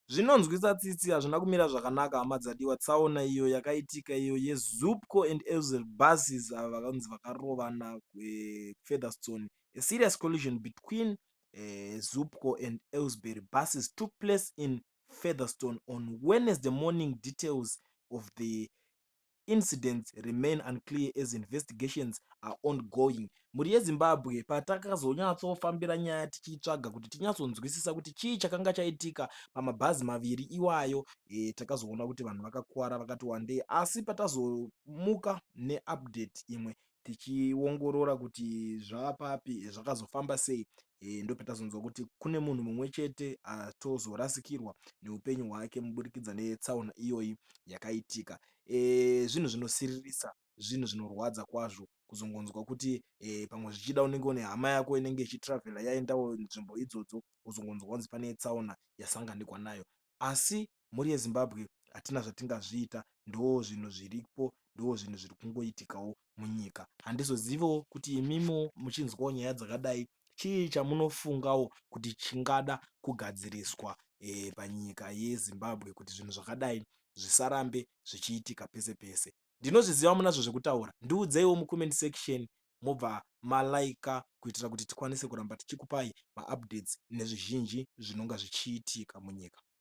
Zvinonzwisa tsitsi hazvina kumira zvakanaka hama dzadiwa tsaona iyo yakaitika iyo ye Zupco and Elzer buses avo vakanzi vakarovana kuFeatherstone. A serious collision between uh, Zupco and Elsbury buses took place in Featherstone on Wednesday morning details of the Incidents remain unclear as investigations are ongoing. Mhuri yeZimbabwe patakazonyatsofambira nyaya tichiitsvaga kuti tinyatsonzwisisa kuti chii chakanga chaitika pamabhazi maviri iwayo e, takazoona kuti vanhu vakakuvara vakati wandei asi patazomuka neupdate imwe tichiongorora kuti zvaapapi zvakazofamba sei eh, ndopetazonzwa kuti kune munhu mumwe chete atozorasikirwa neupenyu hwake muburikidza netsaona iyoyi yakaitika eh, zvinhu zvinosiririsa zvinhu zvinorwadza kwazvo kuzongonzwa kuti eh, pamwe zvichida unenge une hama yako inenge ichitravhela yaendawo nzvimbo idzodzo uzongonzwa kunzi pane tsaona yasanganikwa nayo asi mhuri yeZimbabwe hatina zvatingazviita ndozvinhu zviripo ndozvinhu zviri kungoitikawo munyika handizoziviwo kuti imimo muchinzwawo nyaya dzakadai chii chamunofungawo kuti chingada kugadziriswa e, panyika yezimbabwe kuti zvinhu zvakadai zvisarambe zvichiitika pese pese ndinozviziva munazvo zvekutaura ndiudzeiwo mucomment section mobva malaika kuitira kuti tikwanise kuramba tichikupai maupdates nezvizhinji zvinonga zvichiitika munyika